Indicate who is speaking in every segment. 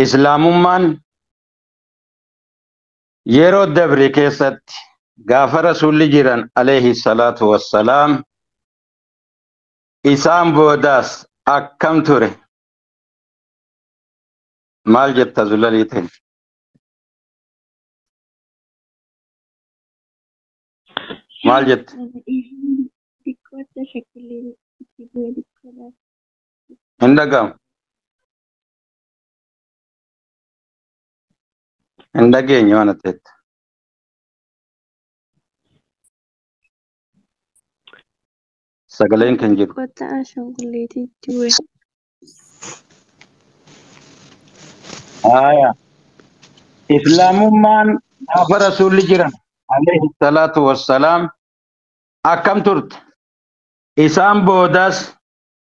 Speaker 1: islaamummaan yeroo dabre keessatti gaafa rasuulli jiran alayhi salaatu wassalaam isaan boodaas akkam ture maal jetta zulalii ta'e maal jette Xiqqoo akka shakkillee itti bu'e xiqqoodhaaf. Hin dhaga'amu. Hin dhageenye waan ati jette. Sagaleen kan jiru. Kotta ashanguleetiitti bu'e. Haaya. Islaamummaan gaafa rasuulli jiran alayhi salaatu wassalaam akkam turte? Isaan boodas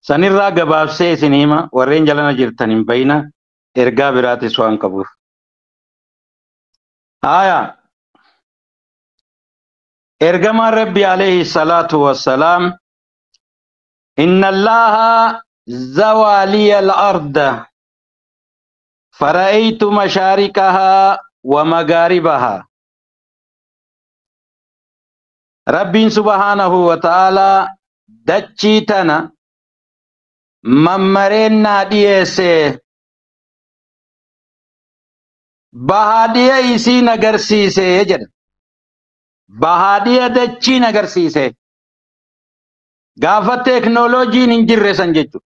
Speaker 1: San irraa gabaabsee isin hima, warreen jalana jirtan hin bayina, ergaa biraatis waan qabuuf. Haaya, Ergamaan Rabbii aleyhi salaatu wa salaam, Inna Allaaha zawaa liya al-arda, fara'eytu mashaariqahaa wa magaaribahaa. Rabbiin subhaanahu wa ta'aalaa dachii tana mammareen naa dhiyeesse. Bahaa dhiya isii na garsiise jedha. Bahaa dhiya dachii na garsiise. Gaafa teeknooloojiin hin jirre san jechuudha.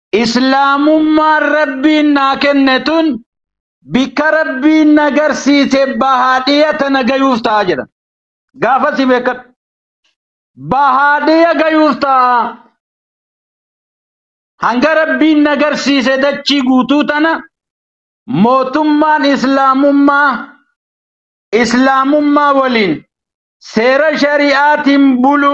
Speaker 1: Islaamummaan Rabbiin naa kenne tun bikka Rabbiin na garsiise bahaadhiya tana gayuuf ta'a jedhan. Gaafasi beekadhu. Bahaadhiya gayuuf ta'a. Hanga Rabbiin na garsiise dachii guutuu tana mootummaan Islaamummaa Islaamummaa waliin seera shari'aatiin bulu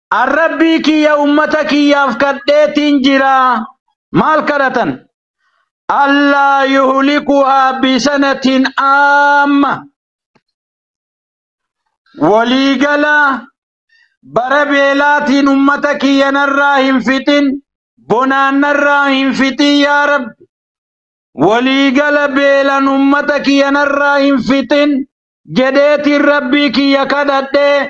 Speaker 1: An Rabbii kiyya ummata kiyyaaf kadheetiin jira. Maal kadhatan? Allaa yuhlikuhaa bisanatiin amma. Waliigala bara beelaatiin ummata kiyya narraa hin fixin, bonaan narraa hin fixin yaa Rabbi. Waliigala beelan ummata kiyya narraa hin fixin jedheetiin Rabbii kiyya kadhadhee.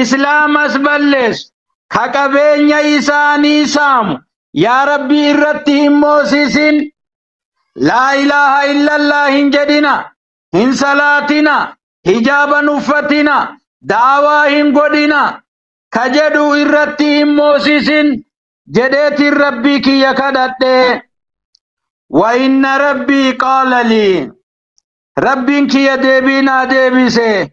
Speaker 1: Islaamas balleessu, ka qabeenya isaanii saamu, yaa Rabbii irratti hin moosisin, Laa ilaaha illallah hin jedhina, hin salaatina, hijaaba hin uffatina, da'awaa hin godhina, ka jedhu irratti hin moosisin jedheetiin Rabbii kiyya kadhadhe. Wa inna Rabbii qaala lii. Rabbiin kiyya deebii naa deebise.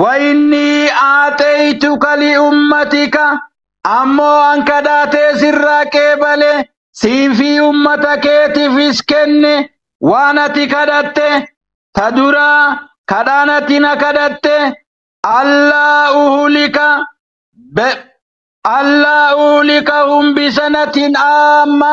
Speaker 1: Wayinnii aaxeeytuka li ummatika, ammoo an kadhaa tee sirraa qeebale, sii fi ummata keetiifis kenne, waan ati kadhatte, ta duraa, kadhaan ati na kadhatte, allaa uhlika, B, allaa uhlikahum bi sanatin aamma,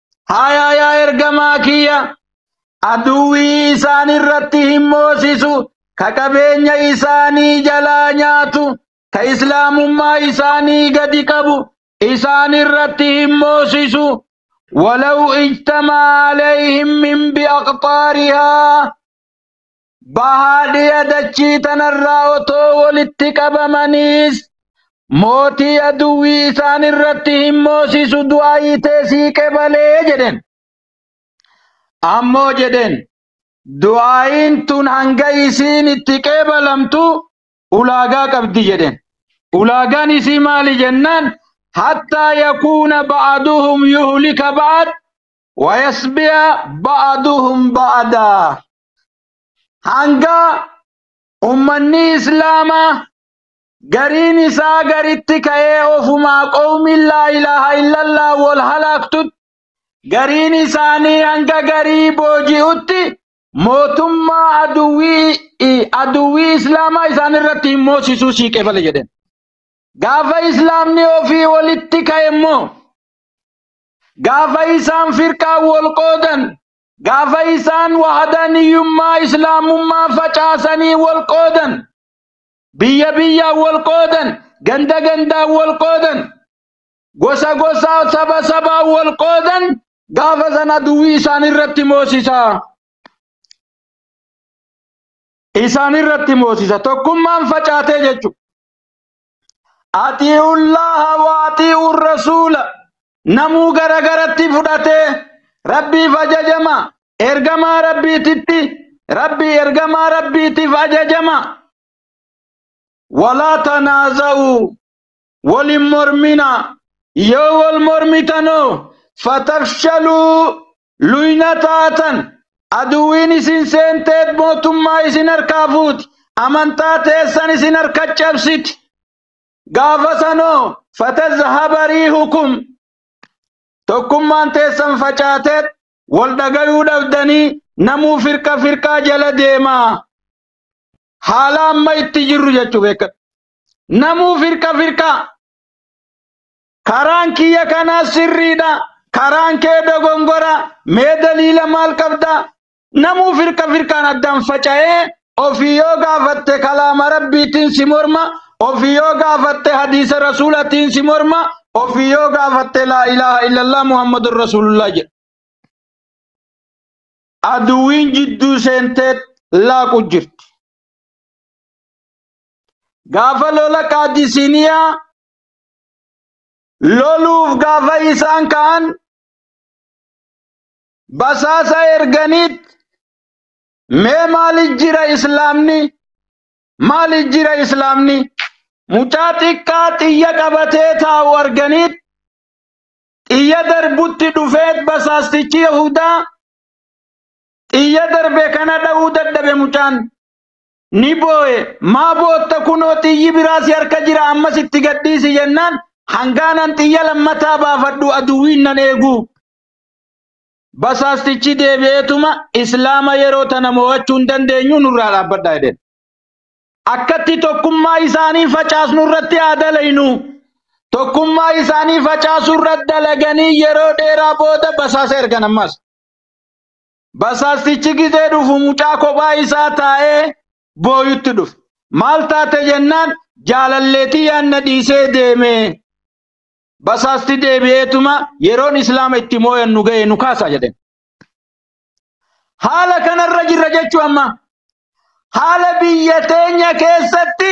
Speaker 1: Haayaa yaa ergamaa kiyya aduwwii isaan irratti hin moosisu ka qabeenya isaanii jalaa nyaatu ka islaamummaa isaanii gadi qabu isaan irratti hin moosisu walaw ijtamaa alayhim min biaqxaarihaa Bahaa dhiya dachii tanarraa otoo walitti qabamaniis mootii aduwwii isaan irratti hin moosisu du'aayii tee sii qebalee jedhen. Ammoo jedhen du'aayiin tun hanga isiin itti qeebalamtu ulaagaa qabdi jedhen. Ulaagaan isii maali jennaan hattaa yakuuna ba'aduhum yuhlika ba'ad wayasbiya ba'aduhum ba'adaa. hanga ummanni islaamaa gariin isaa garitti ka'ee ofumaa qawmiin laa ilaaha illallaa wal halaaktutti gariin isaanii hanga garii booji'utti mootummaa aduwwii aduwwii islaamaa isaan irratti hin moosisuu sii qeebale jedheen. Gaafa islaamni ofii walitti ka'e immoo gaafa isaan firqaan wal qoodan Gaafa isaan wahadaaniyyummaa islaamummaa facaasanii wal qoodan, biyya biyyaan wal qoodan, ganda gandaan wal qoodan, gosa gosaa saba sabaan wal qoodan gaafa san aduwwii isaan irratti moosisa. Isaan irratti moosisa. Tokkummaan facaatee jechuudha. atii'ullaaha wa atii'ur rasuula namuu gara garatti fudhatee rabbiif ajajama ergamaa rabbiititti rabbii ergamaa rabbiitiif ajajama walaa tanaaza'uu walin mormina yoo wal mormitanoo fatafshaluu Luyna taatan, aduwwiin isin seenteet mootummaa isin harkaa fuuti, amantaa teessan isin harka cabsiti. Gaafa sanoo fatazhaba riihukum, tokkummaan teessan facaateet wal dhagayuu dhabdanii namuu firqa firqaa jala deemaa. Haala amma itti jirru jechuu beekadhu. Namuu firqa firqaa. Karaan kiyya kanaa sirriidha. Karaan kee dogongora. Mee daliila maal qabda? Namuu firqa firqaan addaan faca'ee ofii yoo gaafatte kalaama rabbiitiin si morma, ofii yoo gaafatte hadiisa rasuulatiin si morma, ofii yoo gaafatte laa ilaaha illallah Muhammadun Rasuulullah jedha. Aduwiin jidduu seentee laaqu jirti. Gaafa lola qaadisiiniyaa loluuf gaafa isaan ka'an basaasa erganiit mee maali jira islaamni maali jira islaamni mucaa xiqqaa xiyya qabatee taa'u arganiit xiyya darbutti dhufeet basaastichi yahudaa xiyya darbe kana dha'uu dadhabe mucaan ni booye maa bootta kunoo xiyyi biraa si harka jira ammas itti gadhiisi jennaan hangaanan xiyya lammataa baafadhu aduwwiin nan eeguu basaastichi deebi'eetuma islaama yeroo tana mo'achuu hin dandeenyu nurraa dhaabbadha jedheen akkatti tokkummaa isaanii facaasnu irratti haa dalaynu tokkummaa isaanii facaasuu irratti dalaganii yeroo dheeraa booda basaasa ergan ammas Basaastichi gizee dhufu mucaa kophaa isaa taa'ee booyutti dhufe. Maal taate jennaan jaalalleetii yaanna dhiisee deeme. Basaasti deebi'eetuma yeroon islaama itti mooyan nu ga'e nu kaasa jedheen. Haala kanarra jirra jechuu amma. Haala biyya teenya keessatti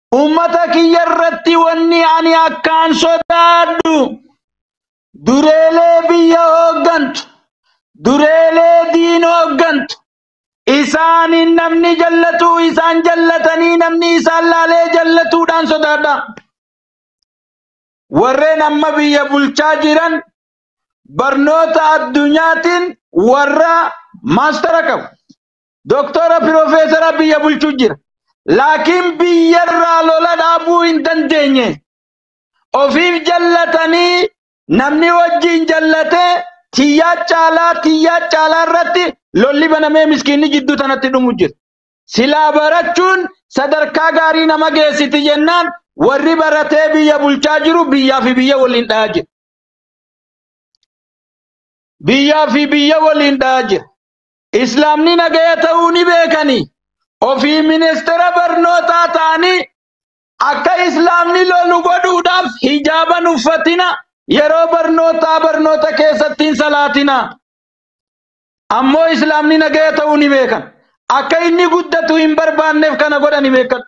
Speaker 1: Ummata kiyya irratti wanni ani akkaan sodaadhu dureelee biyya hooggantu, dureelee diin hooggantu, isaaniin namni jallatu isaan jallatanii namni isaan laalee jallatuudhaan sodaadha. Warreen amma biyya bulchaa jiran barnoota addunyaatiin warra maastara qabu. Doktora Pirofeesara biyya bulchu jira. Laakiin biyyarraa lola dhaabuu hin dandeenye. Ofiif jallatanii namni wajjin jallatee tiyyaa caalaa tiyyaa caalaa irratti lolli banamee miskiinni jidduu tanatti dhumu jira. Silaa barachuun sadarkaa gaarii nama geessiti jennaan warri baratee biyya bulchaa jiru biyyaa fi biyya waliin dhayaa jira. Biyyaa fi biyya waliin dhayaa jira. Islaamni nagaya ta'uu ni beekani. Ofii ministeera barnootaa ta'anii akka Islaamni lolu godhuudhaaf hijaaban uffatina, yeroo barnootaa barnoota keessatti hin salaatina. Ammoo Islaamni nagaya ta'uu ni beekan. Akka inni guddatu hin barbaanneef kana godhani beekadhu.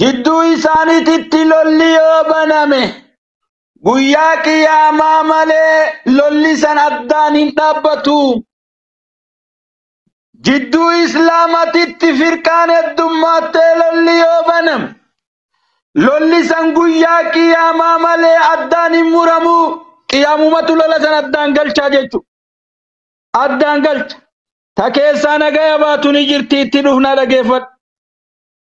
Speaker 1: Jidduu isaaniititti lolli yoo baname guyyaa qiyaamaa malee lolli san addaan hin dhaabbatu. Jidduu islaamatitti firqaan heddummaattee lolli yoo baname lolli san guyyaa qiyaamaa malee addaan hin muramu. Qiyaamumatu lola san addaan galchaa jechuudha. Addaan galcha. Ta keessaa nagaya baatu ni jirti itti dhufnaa dhageeffadhu.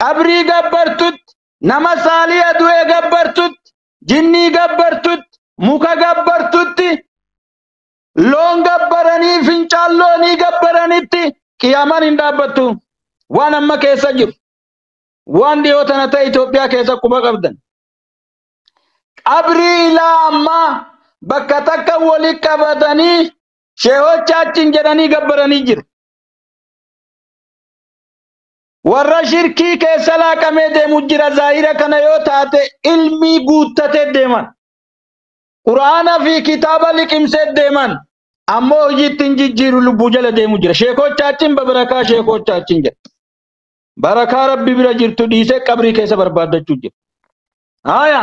Speaker 1: qabrii gabbartutti, nama saaliha du'e gabbartutti, jinnii gabbartutti, muka gabbartutti, loon gabbaranii fincaan loonii gabbaranitti qiyaamaan hin dhaabbattu. Waan amma keessa jiru. Waan dhiyoo tana ta'e Itoophiyaa keessa quba qabdan. Qabrii ilaa ammaa bakka takka wali qabatanii sheehochaachiin jedhanii gabbaranii jiru. Warra shirkii keessa laaqamee deemu jira zaahira kana yoo taate ilmii guuttatee deeman. Qur'aana fi kitaaba liqimsee deeman. Ammoo hojii ittiin jijjiiru lubbuu jala deemu jira. Sheekoochaachiin babarakaa sheekoochaachiin jedha. Barakaa rabbi bira jirtu dhiisee qabrii keessa barbaaddachuu jira. Haaya.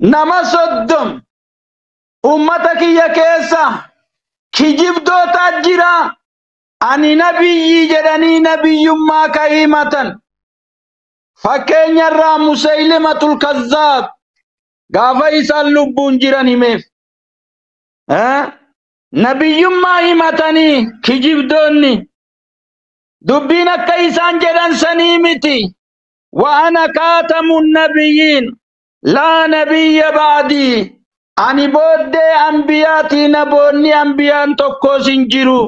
Speaker 1: nama soddom ummata kiyya keessa kijibdootaa jira ani nabiyyii jedhanii nabiyyummaa ka himatan fakkeenya irraa musaylimatul kazzaab gaafa isaan lubbuun jiran himeef Eh? nabiyyummaa himatanii kijibdoonni dubbiin akka isaan jedhan sanii miti wa'ana kaatamu nabiyyiin Laa nabiyya ba'dii. Ani booddee anbiyaatii naboonni anbiyaan tokkoos hin jiru.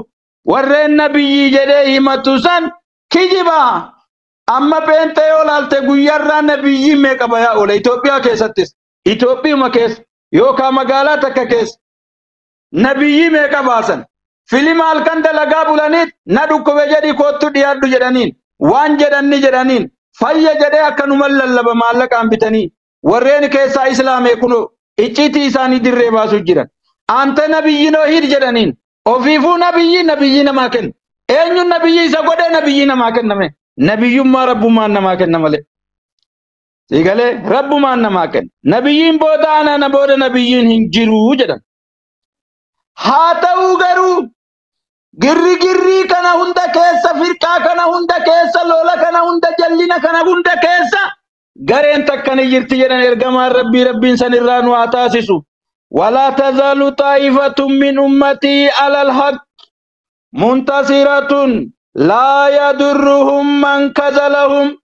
Speaker 1: Warreen nabiyyii jedhee himatu san kijiba. Amma pheenxee yoo laalte guyyarraa nabiyyii meeqa bayaa oola Itoophiyaa keessattis. Itoophiyuma keessa yookaa magaalaa takka keessa. Nabiyyii meeqa baasan? Filima halkan dalagaa bulaniit na dhukkube jedhi koottu dhiyaadhu jedhaniin. Waan jedhan ni jedhaniin. Fayya jedhee akkanuman lallaba maallaqaan bitanii. Warreen keessaa islaame kunoo icciitii isaanii dirree baasuu jiran. Anta nabiyyi noo hiid jedhaniin. Ofiifuu nabiyyi nabiyyii namaa kenna. Eenyuun nabiyyii isa godhee nabiyyii namaa kenname. Nabiyyummaa rabbummaan namaa kenna malee. Sigalee rabbumaan namaa kenna. Nabiyyiin booda anaa na booda nabiyyiin hin jiru jedhan. Haa ta'uu garuu girrigirrii kana hunda keessa firqaa kana hunda keessa lola kana hunda jallina kana hunda keessa gareen takka ni jirti jedhan ergamaan rabbii rabbiin san irraa nu haa taasisu. Walaa tazaalu xaa'ifatun min ummatii alal haq muntasiratun laa yadurruhum man kazalahum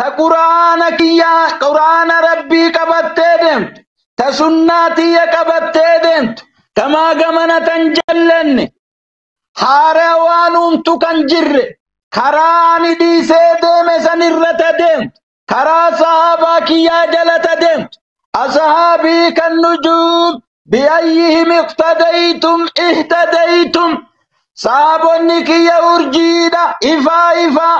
Speaker 1: ta quraana kiyya quraana rabbii qabattee deemtu ta sunnaa tiyya qabattee deemtu tamaa gamana tan jallenne haara waan uumtu kan jirre karaa ani dhiisee deeme san irra ta deemtu karaa sahaabaa kiyyaa jala ta deemtu asahaabii kan nujuub biayyihim iqtadaytum ihtadaytum saabonni kiyya urjiidha ifaa ifaa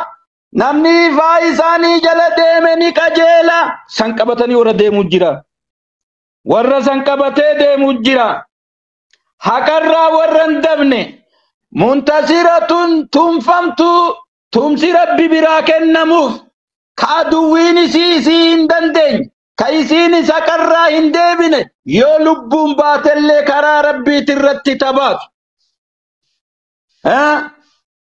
Speaker 1: Namni ifaa isaanii jala deeme ni qajeela. San qabatanii warra deemu jira. Warra san qabatee deemu jira. Haqarraa warra hin dabne. Muntasiratun tumfamtuu tumsi rabbi biraa kennamuuf ka aduwwiin isii isii hin dandeenye ka isiinis haqarraa hin deebine yoo lubbuun baatellee karaa rabbiitirratti tabaatu.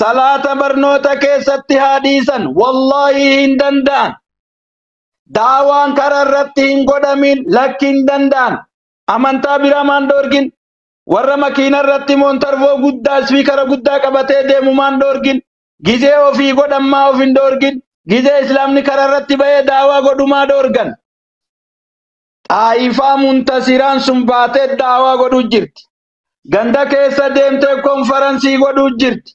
Speaker 1: salaata barnoota keessatti haa dhiisan wallaahi hin danda'an daawaan karaa irratti hin godhamin lakki hin danda'an amantaa biraa maan dhoorgin warra makiina irratti moontarvoo guddaa ispiikara guddaa qabatee deemu maan dhoorgin gizee ofii godhan maa of hin dhoorgin gizee islaamni karaa irratti ba'ee daawaa godhumaa dhoorgan xaayifaa muntasiraan sun baatee daawaa godhu jirti Ganda keessa deemtee konfaransii godhuu jirti.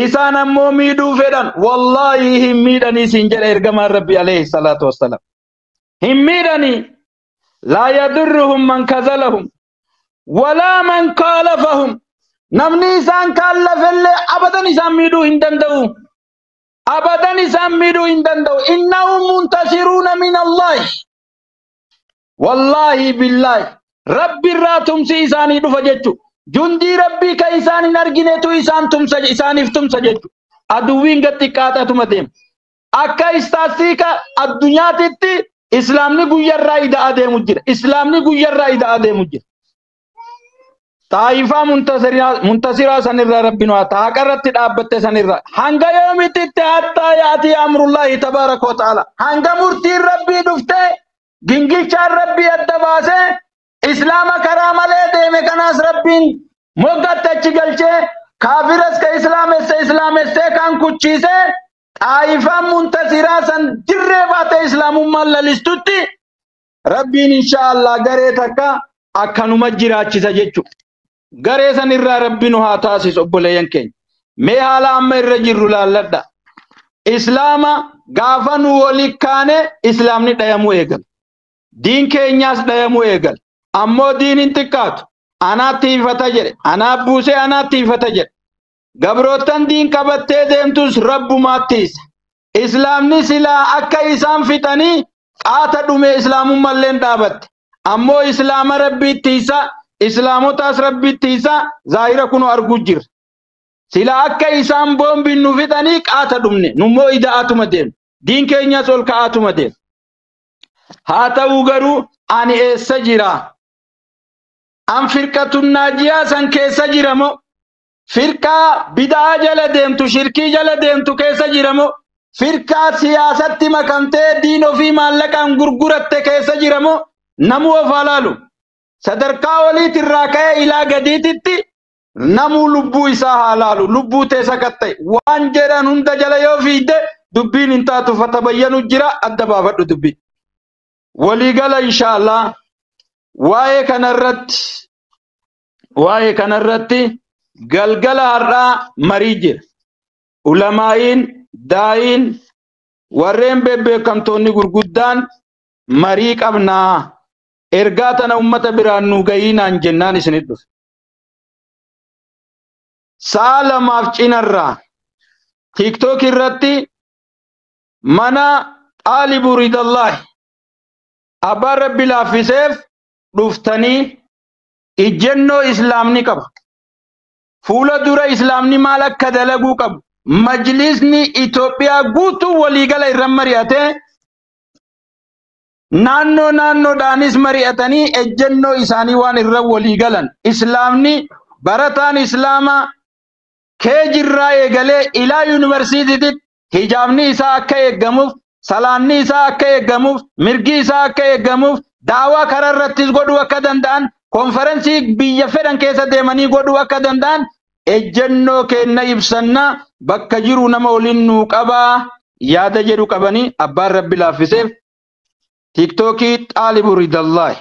Speaker 1: Isaan ammoo miidhuu fedhan. Wallaahi hin miidhanii siin jedha ergamaan Rabbi alayhi salaatu wassalaam. Hin miidhanii. Laa yadurruhum man kazalahum. Walaa man kaalafahum. Namni isaan kaallafellee abadan isaan miidhuu hin danda'u. Abadan isaan miidhuu hin danda'u. Innahum muntasiruuna min Allahi. Wallaahi billaahi rabbi irraa tumsi isaanii dhufa jechu jundii rabbii ka isaan hin arginetu isaan tumsa isaaniif tumsa jechu aduwwiin gad xiqqaatatuma deema akka istaastiika addunyaatitti islaamni guyyarraa ida adeemu jira islaamni guyyarraa ida adeemu jira Taayifaa muntasiraa muntasiraa sanirraa rabbiin waa ta'a haqarratti dhaabbatte sanirraa hanga yoomititti hattaa yaatii amrullaahi tabaaraka wa ta'aala hanga murtiin rabbii dhuftee Gingilchaan Rabbii adda baasee Islaama karaa malee deeme kanaas Rabbiin moggatti achi galchee kaafiras ka Islaamesse Islaamessee kaan kuchiisee Xaayifaan Muntasiraa san dirree baatee Islaamummaan lalistutti Rabbiin inshaa Allah garee takka akkanuma jiraachisa jechuudha. Garee san irraa Rabbi nu haa taasisu obboleeyyan keenya. Mee haala amma irra jirru laalladha. Islaama gaafa nu wali kaane Islaamni dhayamuu eegala. Diin keenyaas dhayamuu eegala. Ammoo diin hin xiqqaatu. Anaa tiifata jedhe. Anaa buusee anaa tiifata jedhe. Gabroottan diin qabattee deemtus Rabbumaa tiisa. Islaamni silaa akka isaan fixanii qaata dhume islaamummalleen dhaabatte. Ammoo islaama Rabbii tiysa, islaamotaas Rabbii tiysa zaahira kunoo arguu jirra. Silaa akka isaan boombiin nu fixanii qaata dhumne, nummoo ida'aatuma deemna. Diin keenyas ol ka'aatuma deema. Haa ta'uu garuu ani eessa jira? An firqatun naajiyaa san keessa jira moo? firqaa bid'aa jala deemtu shirkii jala deemtu keessa jira moo firqaa siyaasatti makamtee diin ofii maallaqaan gurguratte keessa jira moo namuu of haa laalu sadarkaa oliit irraa ka'ee ilaa gadiititti namuu lubbuu isaa haa laalu lubbuu tee sakatta'e waan jedhan hunda jala yoo fiigde dubbiin hin taatu fatabayyanu jira adda baafadhu dubbii waliigala inshaallah waa'ee kanarratti waa'ee kanarratti galgala har'aa marii jira. Ulamaa'iin, daa'iin, warreen bebbeekamtoonni gurguddaan marii qabnaa ergaa tana ummata biraan nuu gahiinaan jennaan isinit dhufe. Sa'a lamaaf cinarraa tiktok irratti mana xaalibu ridallaahi abbaan rabbi laaffiseef dhuftanii ijjennoo Islaamni qabu, fuula dura Islaamni maal akka dalaguu qabu majlisni Itoophiyaa guutuu waliigala irra mari'atee naannoo naannoodhaanis mari'atanii ejjennoo isaanii waan irra waliigalan Islaamni barataan Islaamaa kee jirraa eegalee ilaa yuunivarsiitiitti hijaabni isaa akka eeggamuuf salaanni isaa akka eeggamuuf mirgi isaa akka eeggamuuf daawaa karaa irrattis godhuu akka danda'an konferansii biyya fedhan keessa deemanii godhuu akka danda'an ejjennoo keenna ibsanna bakka jiru nama waliin nuu qabaa yaada jedhu qabanii abbaan rabbi laaffiseef tiiktookii xaalibu ridallaahi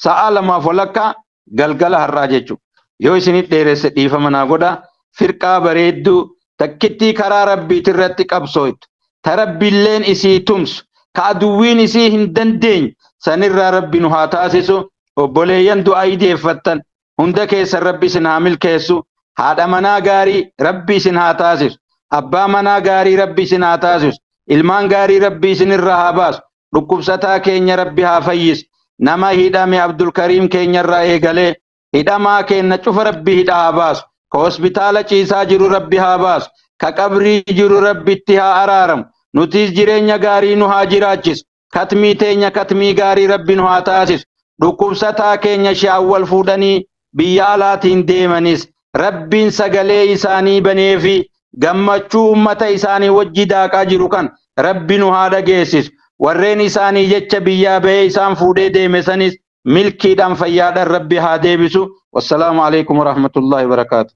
Speaker 1: sa'aa lamaaf walakkaa galgala har'aa jechuudha. Yoo isinit dheeresse dhiifama naa godhaa. Firqaa bareedduu takkittii karaa Rabbiitirratti qabsooytu, ta Rabbilleen isii tumsu, ka aduwwiin isii hin dandeenye sanirraa Rabbi nu haa taasisu. Obboleeyyan du'aa'ii deeffattan hunda keessan rabbi isin haa milkeessu haadha manaa gaarii rabbi isin haa taasisu abbaa manaa gaarii rabbi isin haa taasisu ilmaan gaarii rabbi isin irra haa baasu dhukkubsataa keenya rabbi haa fayyisu nama hidhame abdulkariim keenya irraa eegalee hidhamaa keenna cufa rabbi hidha haa baasu ka hospitaala ciisaa jiru rabbi haa baasu ka qabrii jiru rabbi itti haa araaramu nutiis jireenya gaarii nu haa jiraachisu katmii teenya katmii gaarii rabbiin nu haa taasisu dhukkubsataa keenya shaawwal fuudhanii biyya alaatiin deemanis rabbiin sagalee isaanii banee fi gammachuu ummata isaanii wajji daaqaa jiru kan rabbi nu haa dhageessisu warreen isaanii jecha biyyaa bahee isaan fuudhee deeme sanis milkiidhaan fayyaadhaan rabbi haa deebisu wassalaamu alaikum warahmatullaahi wabarakaatu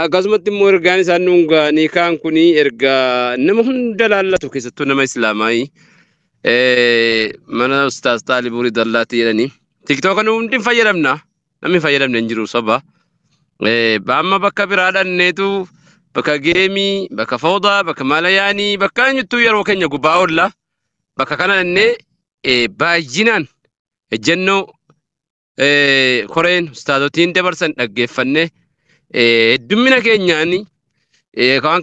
Speaker 2: Akkasumatti immoo ergaan isaan nuun ga'anii kaan kun erga nama hunda laallatu keessattuu nama islaamaayii mana ustaas xaalibuuri dallaatti jedhanii tiktooka nu hundi hin fayyadamna namni hin fayyadamne hin jiru soba. Amma bakka biraa dhanneetu bakka geemii bakka foodaa bakka maalayaanii bakka eenyuttuu yeroo keenya gubbaa oolla bakka kana dhannee baay'inaan ejjennoo eh, koreen ustaazotiin dabarsan dhaggeeffanne eh, heddummina keenyaani eh, waan